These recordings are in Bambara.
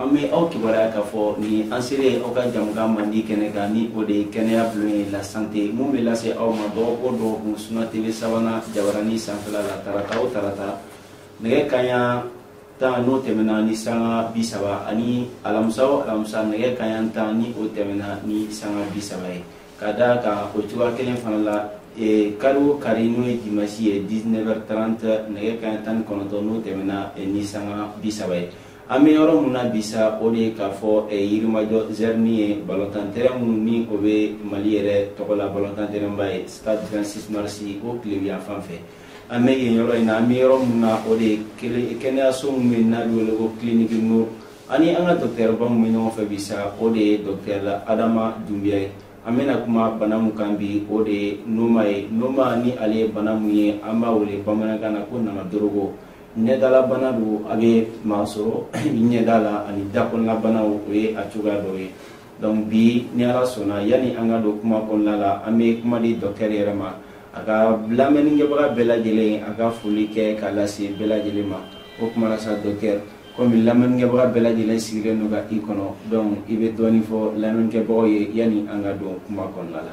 an bɛ aw kibaruya k'a fɔ nin an selen aw ka jamukan mandi kɛnɛ kan ni o de ye kɛnɛya bulon ye la santé mun bɛ lase aw ma dɔgɔkun o dɔgɔkun suna tv savana jabarani sanfɛla la tarata o tarata nɛgɛ kaɲa tan n'o tɛmɛna ni sanga bi saba ani alamisa o alamisa nɛgɛ kaɲa tan ni o tɛmɛna ni sanga bi saba ye ka da kan o cogoya kelen fana la e, kari o kari n'o ye dimasi ye 19h30 nɛgɛ kaɲa tan ni kɔnɔntɔn n'o tɛmɛna e, ni sanga bi saba ye an bɛ yɔrɔ min na bi sa o de ye k'a fɔ eh, yirimajɔ zɛrini ye balontan tɛrɛn min ni o bɛ mali yɛrɛ tɔgɔ la balontan tɛrɛnba ye stade 26 mars o tilebinyan fan fɛ an bɛ yen yɔrɔ in na an bɛ yɔrɔ min na o de ye kɛnɛyaso min bɛ yen n'a bɛ wele ko clinique nour ani an ka dɔkitɛriba min bɛ ɲɔgɔn fɛ bi sa o de ye dɔkitɛri adama dunbiya ye an bɛna kuma bana min kan bi o de ye noma ye noma ni ale ye bana min ye an b'a wele bamanankan na ko namadorogo ɲɛdalabana don a bɛ maa sɔrɔ ɲɛda la ani dakɔnɔnabanaw o ye a cogoya dɔw ye donc bi ni ala sɔnna yanni an ka don kuma kɔnɔna la an bɛ kuma di dɔkitɛri yɛrɛ ma a ka lamɛnnikɛbaga bɛɛ lajɛlen a ka foli kɛ k'a lase bɛɛ lajɛlen ma o tuma na sa dɔkitɛri komi lamɛnnikɛbaga bɛɛ lajɛlen sigilen don ka i kɔnɔ donc i bɛ dɔɔnin fɔ lamɛnnikɛbagaw ye yanni an ka don kuma kɔnɔna la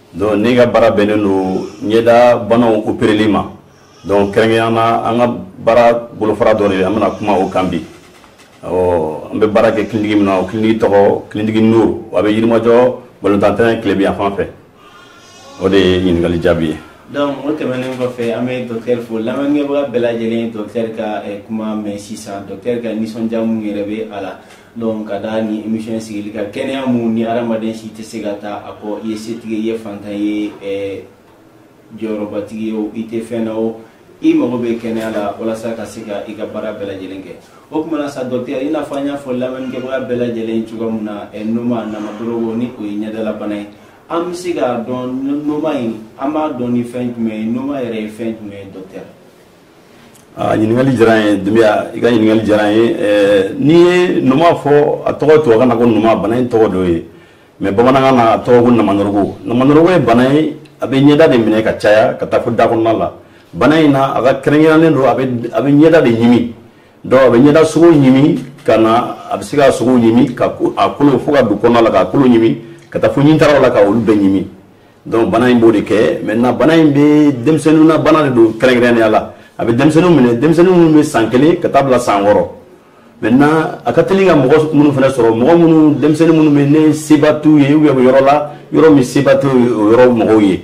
Donc ne ka baara bɛnnen don ɲɛda banaw opereli ma donc kɛrɛnkɛrɛnya na an ka baara bolofara dɔ de an bɛna kuma o kan bi ɔ an bɛ baara kɛ kiliniki min na o kiliniki tɔgɔ kiliniki nuru a bɛ yirimajɔ balontan tɛrɛn tilebinyan fan fɛ o de ye ɲininkali jaabi ye donc o tɛmɛnen kɔfɛ an bɛ docteur fo lamɛnnikɛbaga bɛɛ lajɛlen ye docteur ka kuma mɛn sisan docteur ka nisɔndiya min yɛrɛ bɛ a la donc ka da nin émission sigili kan kɛnɛya mun ni adamaden si tɛ se ka taa a kɔ i ye setigi i ye fantan ye eh, jɔyɔrɔbatigi ye o i tɛ fɛn na o i mago bɛ kɛnɛya la walasa ka se ka i ka baara bɛɛ lajɛlen kɛ o tuma na sa dɔkitɛri i n'a fɔ an y'a fɔ lamɛnnikɛbaga bɛɛ lajɛlen cogoya min na eh, noma namadorogo ni o ye ɲɛdalabana ye an bɛ se k'a dɔn noma in an b'a dɔn ni fɛn jumɛn ye noma yɛrɛ ye fɛn jumɛn ye dɔkitɛri Ah, ɲininkali diyara n ye dunya i ka ɲininkali diyara n ye eh, n'i ye noma fɔ a tɔgɔ tubabukan na ko noma bana in tɔgɔ dɔ ye mais bamanankan na a tɔgɔ ko namanorogo namanorogo ye bana ye a bɛ ɲɛda de minɛ ka caya ka taa fo da kɔnɔna la bana in na a ka kɛrɛnkɛrɛnnen don a bɛ ɲɛda de ɲimi donc a bɛ ɲɛda sogo ɲimi ka na a bɛ se ka sogo ɲimi ka a kolo fo ka don kɔnɔna la k'a kolo ɲimi ka taa fo ɲintaraw la ka olu bɛɛ ɲimi donc bana in b'o de kɛ maintenant bana in bɛ denmisɛnnin na bana de don kɛrɛnkɛrɛnnenya la a bɛ denmisɛnnin minɛ denmisɛnnin minnu bɛ san kelen ka taa bila san wɔɔrɔ maintenant a ka teli ka mɔgɔ minnu fana sɔrɔ mɔgɔ minnu denmisɛnnin minnu bɛ yen seba t'u ye u bɛ yɔrɔ la yɔrɔ min seba t'u ye o yɔrɔ mɔgɔw ye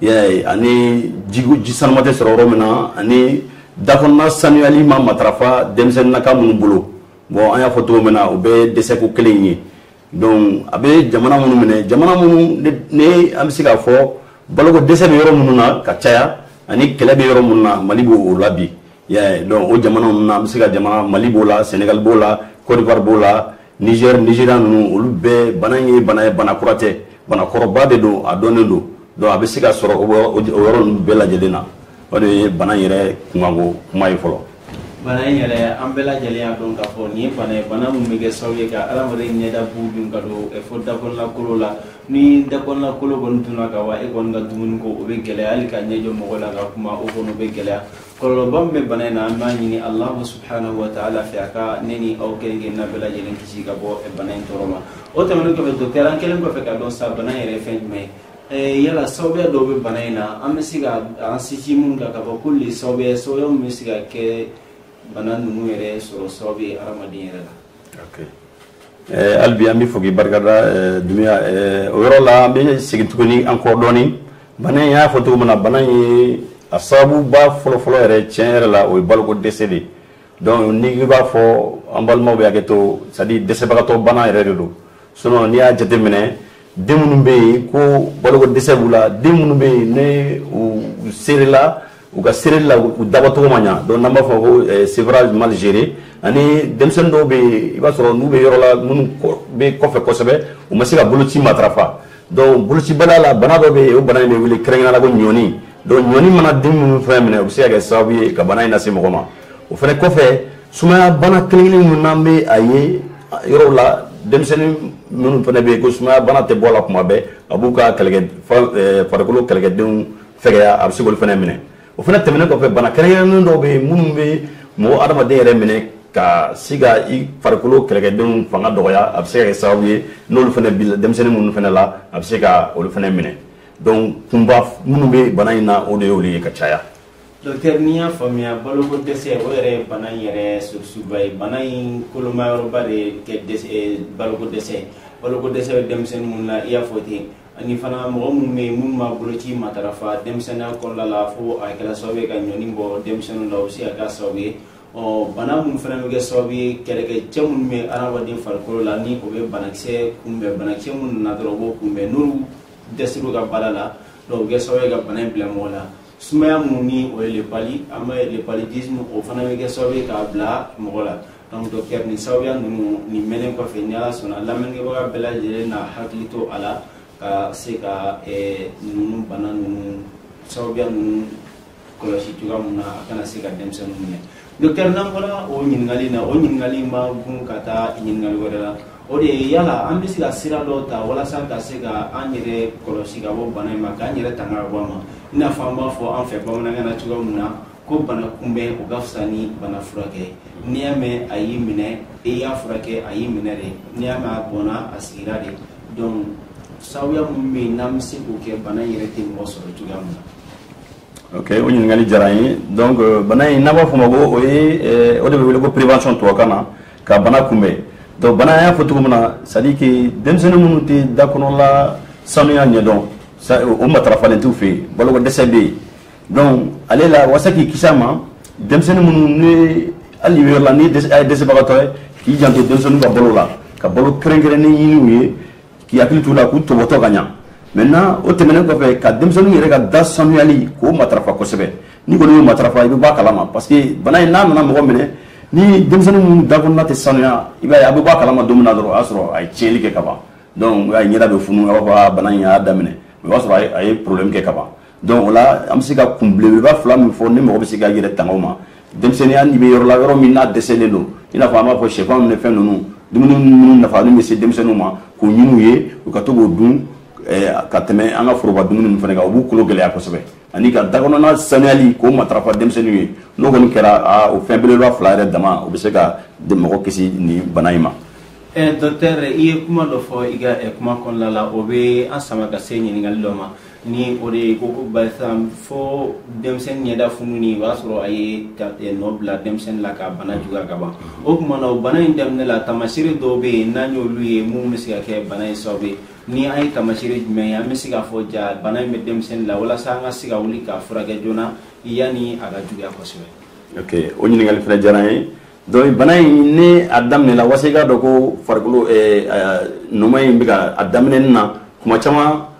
yɛ ani ji ji sanuman tɛ sɔrɔ yɔrɔ min na ani dakɔnɔna sanuyali ma matarafa denmisɛnnin na ka minnu bolo bɔn an y'a fɔ cogo min na u bɛ dɛsɛ ko kelen ye donc a bɛ jamana minnu minɛ jamana minnu ni an bɛ se k'a fɔ baloko dɛsɛ bɛ yɔrɔ minnu na ka caya ani kɛlɛ bɛ yɔrɔ minnu na mali b'o la bi donc o jamana ninnu na an bɛ se ka jamana mali b'o la senegal b'o la cote d'ivoire b'o la niger nigeria ninnu olu bɛɛ bana in ye bana ye bana kura tɛ bana kɔrɔba de don a dɔnnen don donc a bɛ se ka sɔrɔ o yɔrɔ ninnu bɛɛ lajɛlen na o de ye bana yɛrɛ kunkanko kuma ye fɔlɔ bana in yɛrɛ an bɛɛ lajɛlen y'a dɔn k'a fɔ nin ye bana ye bana min bɛ kɛ sababu ye ka adamaden ɲɛda bu dun ka don eh, fo dakɔnɔnakolo la ni dakɔnɔnakolo kɔni dunna ka wa e kɔni ka dumuni ko o bɛ gɛlɛya hali ka ɲɛ jɔ mɔgɔ la ka kuma o kɔni o bɛ gɛlɛya kɔlɔlɔba min bɛ bana in na an b'a ɲini alahu subhanahu wa taala fɛ a ka ne ni aw kelen-kelenna bɛɛ lajɛlen kisi ka bɔ eh, bana in tɔɔrɔ ma o tɛmɛnen kɔfɛ docteur an kɛlen kɔfɛ k'a dɔn sa bana in yɛrɛ ye fɛn jumɛn ye Eh, yala sababuya dɔw bɛ bana in na an bɛ se ka an sinsin minnu kan k'a fɔ k'olu le sababuya sababuya min bɛ se ka kɛ bana ninnu yɛrɛ sɔrɔ sababu ye adamaden yɛrɛ la. Okay. Eh, hali bi an b'i fo k'i barikada eh, Dunbiya eh, o yɔrɔ la an bɛ segin tuguni an kɔ dɔɔni bana in y'a fɔ cogo min na bana in ye a sababuba fɔlɔfɔlɔ yɛrɛ tiɲɛ yɛrɛ la o ye baloko dɛsɛ de ye. donc ni i b'a fɔ an balimaw bɛ hakɛ to c'est-à-dire dɛsɛbagatɔ bana yɛrɛ de don sinon n'i y'a jateminɛ den minnu bɛ yen ko baloko dɛsɛ b'u la den minnu bɛ yen ni u serela u ka sereli la u dabɔcogo ma ɲa donc n'an b'a fɔ ko eh, sevrage mal géré ani denmisɛnnin dɔw bɛ yen i b'a sɔrɔ n'u bɛ yɔrɔ la minnu bɛ kɔfɛ kosɛbɛ u ma se ka boloci matarafa donc bolocibaliya la bana dɔ bɛ yen o bana in bɛ wele kɛrɛnkɛrɛnnenya la ko ɲɔnin donc ɲɔnin mana den minnu fɛnɛ minɛ o bɛ se ka kɛ sababu ye ka bana in lase mɔgɔ ma o fɛnɛ kɔfɛ sumaya bana kelen kelen minnu n'an bɛ a ye yɔrɔw la denmisɛnnin minnu fɛnɛ bɛ yen ko sumaya bana tɛ bɔ a la kuma bɛɛ a b'u ka kɛlɛkɛ farikolo kɛlɛkɛdenw fɛgɛya a bɛ se k'olu fɛnɛ minɛ o fana tɛmɛnen kɔfɛ bana kɛrɛnkɛrɛnnen dɔw bɛ yen minnu bɛ mɔgɔ adamaden yɛrɛ minɛ ka se ka i farikolo kɛlɛkɛdenw fanga dɔgɔya a bɛ se ka kɛ sababu ye n'olu fana bɛ denmisɛnnin minnu fana la a bɛ se ka olu fana minɛ donc kunba minnu bɛ bana in na o de y'olu ye ka caya. docteur ni n y'a faamuya baloko dɛsɛ o yɛrɛ ye bana in yɛrɛ surusuba ye bana in kolomayɔrɔba de ye kɛ dɛsɛ baloko dɛsɛ baloko dɛsɛ bɛ denmisɛnnin minnu na i y'a fɔ ten ani fana mɔgɔ minnu bɛ yen minnu ma boloci matarafa denmisɛnninya kɔnɔna la fo a kɛra sababu ye ka ɲɔni bɔ denmisɛnninw la o bɛ se ka kɛ sababu ye ɔ bana minnu fana bɛ kɛ sababu ye kɛlɛkɛcɛ minnu bɛ adamaden farikolo la ni o bɛ banakisɛ kunbɛn banakisɛ minnu nana dɔrɔn o b'o kunbɛn n'olu dɛsɛr'u ka baara la donc o bɛ kɛ sababu ye ka bana in bila mɔgɔ la sumaya minnu ni o ye le palu an bɛ le paludisme o fana bɛ kɛ sababu ye k'a bila mɔgɔ la donc docteur nin sababuya ninnu nin mɛnnen kɔfɛ ni ala sɔnna lamɛnnikɛbaga bɛɛ lajɛlen na hakili to a la ka se ka eh, ninnu bana ninnu sababuya ninnu kɔlɔsi cogoya min na a kana se ka denmisɛnninw minɛ docteur n'an bɔra o ɲininkali na o ɲininkali in b'an gun ka taa ɲininkali wɛrɛ la o de ye yala an bɛ se ka sira dɔw ta walasa ka se ka an yɛrɛ kɔlɔsi ka bɔ bana in ma k'an yɛrɛ tanga ka bɔ a ma i n'a fɔ an b'a fɔ an fɛ bamanankan na cogoya min na ko bana kunbɛn o ka fisa ni bana furakɛ n'i y'a mɛn a y'i minɛ i y'a furakɛ a y'i minɛ de n'i y'a mɛn a bɔnna a sigira de donc sababuya minnu bɛ yen n'an bɛ se k'o kɛ bana in yɛrɛ tɛ mɔgɔ sɔrɔ cogoya min na. ok o ɲininkali diyara an ye donc euh, bana in n'an b'a fɔ o ma ko o ye euh, o de bɛ wele ko prévention tubabukan na ka bana kunbɛn donc bana an y'a fɔ cogo min na c'est à dire que denmisɛnnin minnu tɛ da kɔnɔla sanuya ɲɛdɔn o matarafalen t'u fɛ yen baloko dɛsɛ bɛ yen. donc ale la walasa k'i kisi a ma denmisɛnnin minnu ni hali yɔrɔ la n'i ye dɛsɛbagatɔ ye k'i janto denmisɛnninw ka balo la ka balo kɛrɛnkɛrɛnnen ɲini u ye k'i hakili t'u la k'u tɔbɔtɔ ka ɲa maintenant o tɛmɛnen kɔfɛ ka denmisɛnninw yɛrɛ ka da sanuyali k'o matarafa kosɛbɛ n'i kɔni y'o matarafa i bɛ bɔ a kalama parce que bana in n'a nana mɔgɔ minɛ ni denmisɛnnin minnu da kɔnɔna tɛ sanuya i b'a ye a bɛ bɔ a kalama don min na dɔrɔn o y'a sɔrɔ a ye tiɲɛli kɛ ka ban donc a ye ɲɛda bɛ funu a b'a fɔ a bana in y'a daminɛ o b'a sɔrɔ a ye problème kɛ ka ban donc o la an bɛ se ka kun belebeleba fila min fɔ ni mɔgɔ bɛ se k'a yɛrɛ tanga o ma denmisɛnninya n'i bɛ yɔrɔ la yɔrɔ min n'a dɛsɛlen don i n'a fɔ an b'a fɔ sɛfan ninnu ni fɛn ninnu dumuni minnu nafalen bɛ se denmisɛnninw ma k'o ɲini u ye u ka to k'o dun eh, ka tɛmɛ an ka foroba dumuni ninnu fana kan o b'u kolo gɛlɛya kosɛbɛ ani ka dakɔnɔna sanuyali k'o matarafa denmisɛnninw ye n'o kɔni kɛra o fɛn belebeleba fila yɛrɛ dama o bɛ se ka mɔgɔ kisi nin bana in ma eh, docteur i ye kuma dɔ fɔ i ka eh, kuma kɔnɔna la o bɛ an sama ka se ɲininkali dɔ ma ni o de ye ko ko barisa fo denmisɛnnin ɲɛda fununi o y'a sɔrɔ a ye eh, nɔ bila denmisɛnnin la ka bana juguya ka ban o tuma na o bana in daminɛ la taamaseere dɔw bɛ yen n'an y'olu ye minnu bɛ se ka kɛ bana in sababu ye ni an ye taamaseere jumɛn ye an bɛ se k'a fɔ jaa bana in bɛ denmisɛnnin la walasa an ka se ka wuli k'a furakɛ joona yanni a ka juguya kosɛbɛ. ok o ɲininkali fana diyara an ye donc bana in ni a daminɛ la walasa i k'a dɔn ko farikolo eh, eh, noma in bɛ ka a daminɛ na kuma caman.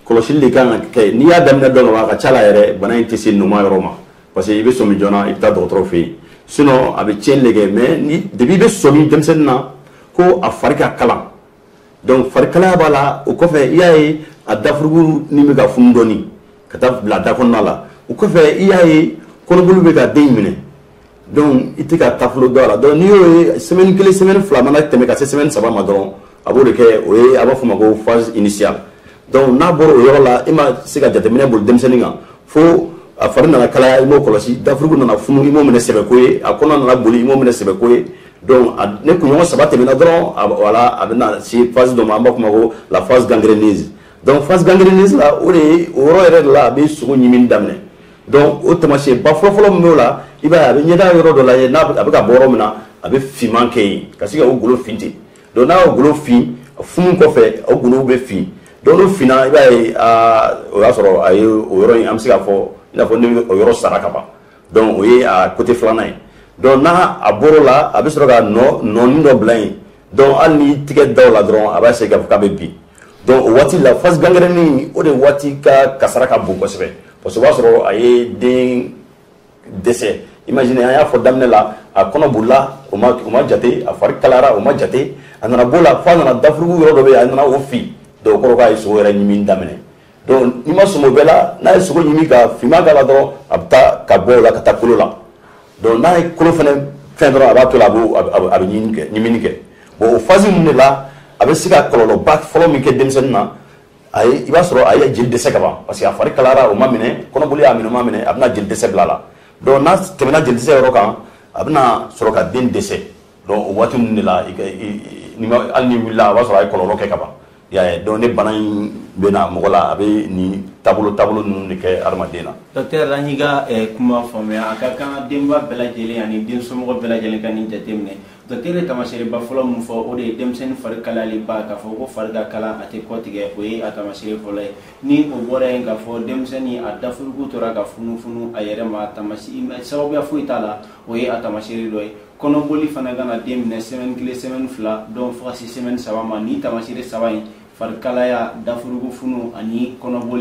kɔlɔsili de kan ka kɛ n'i y'a daminɛ dɔn ka ban a ka ca la yɛrɛ bana in tɛ se noma yɔrɔ ma parce que i bɛ sɔmi joona i bɛ taa dɔgɔtɔrɔ fɛ yen sinon a bɛ tiɲɛni de kɛ mais ni depuis i bɛ sɔmi denmisɛnnin na ko a fari ka kalan donc farikalaya b'a la o kɔfɛ i y'a ye a dafurugu ni bɛ ka funu dɔɔni ka taa bila da kɔnɔna la o kɔfɛ i y'a ye kɔnɔboli bɛ ka den in minɛ donc i tɛ ka taabolo dɔn a la donc n'i y'o ye semaine kelen semaine fila mana tɛmɛ ka se semaine saba ma dɔrɔn a b'o de kɛ o ye a b'a fɔ o ma ko phase initiale donc n'a bɔra o yɔrɔ la i ma se ka jateminɛ boli denmisɛnnin kan fo a fari nana kalaya i m'o kɔlɔsi dafurugu nana funu i m'o minɛ sɛbɛko ye a kɔnɔ nana boli i m'o minɛ sɛbɛko ye donc ni kunɲɔgɔn saba tɛmɛna dɔrɔn voilà a bɛna se phase dɔ ma an b'a fɔ o ma ko la phase gangréneuse donc phase gangréneuse la o de ye o yɔrɔ yɛrɛ de la a bɛ sogo ɲimi daminɛ Donc o taamasiyɛnba fɔlɔfɔlɔ min b'o la, i b'a ye a bɛ ɲɛda yɔrɔ dɔ lajɛ n'a a bɛ ka bɔ yɔrɔ min na, a bɛ finman kɛ yen ka se ka o golo fin ten donc n'a y'o golo fin a funu kɔfɛ o golow bɛ fin donc n'o finna i b'a ye aa o y'a sɔrɔ a ye o yɔrɔ in an bɛ se k'a fɔ i n'a fɔ ne bɛ o yɔrɔ sara ka ban donc o ye a côté filanan ye donc n'a a bɔr'o la a bɛ sɔrɔ ka nɔ nɔnin dɔ bila yen donc hali n'i tigɛ da o la dɔrɔn a b'a essayer k'a fɔ k'a bɛ bin donc o waati la phase gangrène o de waati ka kasara ka bon kosɛbɛ parce que o b'a sɔrɔ a ye den dɛsɛ imagine an y'a fɔ daminɛ la a kɔnɔ bolila o ma o ma jate a fari kalayara o ma jate a nana b'o la f'a nana dafurugu yɔrɔ dɔ bɛ yen a nana o fin donc o kɔrɔ k'a ye sogo yɛrɛ ɲimi daminɛ donc n'i ma sɔmi o bɛɛ la n'a ye sogo ɲimi ka finman k'a la dɔrɔn a bɛ taa ka bɔ o la ka taa kolo la donc n'a ye kolo fana fɛn dɔrɔn a b'a to la a bɛ ɲimini kɛ ɲimini kɛ bon o phase ninnu de la a bɛ se ka kɔlɔlɔba fɔlɔ min kɛ denmisɛnnin na a ye i b'a sɔrɔ a ye jeli dɛsɛ ka ban parce que a fari kalayara o ma minɛ kɔnɔboli y'a minɛ o ma minɛ a bɛna jeli dɛsɛ bila a la donc n'a tɛmɛna jeli dɛsɛ yɔrɔ kan a bɛna sɔrɔ ka den dɛsɛ donc o waati ninnu de la hali n'i wulila a b'a sɔrɔ a ye kɔlɔlɔ kɛ ka ban i y'a ye donc ni bana in bɛ na mɔgɔ la a bɛ nin taabolo taabolo ninnu de kɛ adamaden na docteur an y'i ka eh, kuma faamuya a ka kan denba bɛɛ lajɛlen ani den somɔgɔ bɛɛ lajɛlen ka nin jateminɛ docteur ye taamaseereba fɔlɔ min fɔ o de ye denmisɛnnin fari kalayaliba k'a fɔ ko fari ka kalan a tɛ kɔtigɛ o ye a taamaseere fɔlɔ ye ni o bɔra yen k'a fɔ denmisɛnnin a dafurugu tora ka funufunu a yɛrɛ ma tamasi sababuya foyi t'a la o ye a taamaseere dɔ ye kɔnɔboli fana ka na den minɛ semaine kelen semaine fila donc fo ka se semaine saba ma ni taamaseere saba in farikalaya dafurugu funu ani kɔnɔboli